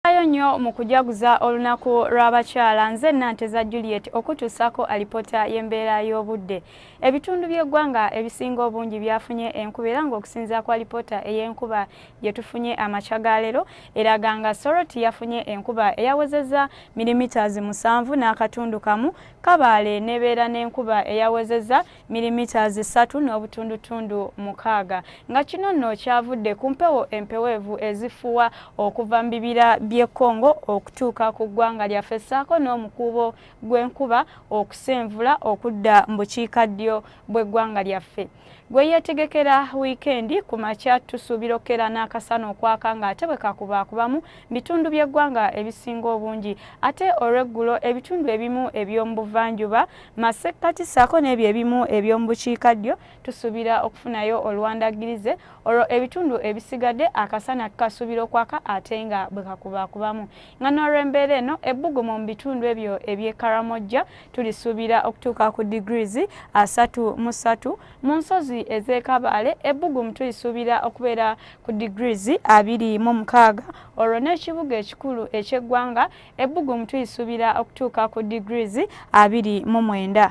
Ayo nnyo mu kujaguza olunaku lw'abakyala nze Nanteza Juliet okutuusako alipota y'embeera y'obudde. Ebitundu by'eggwanga ebisinga obungi byafunye enkuba era ng'okusinza kwa alipota ey'enkuba gye tufunye amakya ga leero eraga nga Soroti yafunye enkuba eyawezezza milimitazi musanvu n'akatundu kamu, Kabaale n'ebeera n'enkuba eyawezezza milimeters ssatu n'obutundutundu mukaaga nga kino nno kyavudde ku mpewo empeweevu ezifuwa okuva mu bibira by'e Congo okutuuka ku ggwanga lyaffe ssaako n'omukuubo gw'enkuba okusenvula okudda mu bukiikaddyo bw'eggwanga lyaffe gwe yeetegekera wiikendi ku makya tusuubira okukeera n'akasana okwaka ng'ate bwe kakubaakubamu bitundu by'eggwanga ebisinga obungi ate olw'eggulo ebitundu ebimu eby'omu buvanjuba masekkati saako n'ebyo ebimu eby'omu bukiika ddyo tusuubira okufunayo olwandagirize olwo ebitundu ebisigadde akasana kasuubira okwaka ate nga bwe kakubakubamu nga n'olw'embeera eno ebbugumu mu bitundu ebyo eby'e karamojja tulisuubira okutuuka ku degrees asatu mu ssatu mu nsozi ez'ekabaale ebbugumu tulisuubira okubeera ku degrees abiri mu mukaaga olwo n'ekibuga ekikulu eky'eggwanga ebbugumu tuyisuubira okutuuka ku degrees abiri mu mwenda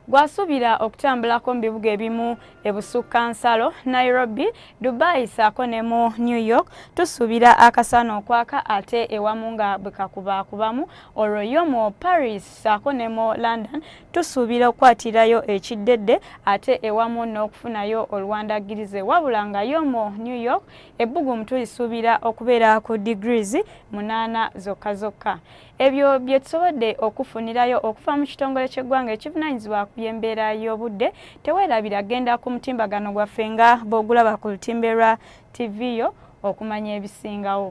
gwasuubira okutambulako mu bibuga ebimu ebusukka nsalo nairobi dubai saako ne mu new york tusuubira akasana okwaka ate ewamu nga bwekakubaakubamu olwo yo mu paris saako ne mu london tusuubira okukwatirayo ekiddedde ate ewamu n'okufunayo oluwandaggirize wabula nga yo mu new york ebbugumu tulisuubira okubeera ku degrees munaana zokka zokka ebyo bye tusobodde okufunirayo okuva mu kitongole ky'eggwanga ekivunaanyizibwa ku by'embeera y'obudde teweerabira genda ku mutimbagano gwaffe nga bw'ogulaba ku lutimbe lwa tv yo okumanya ebisingawo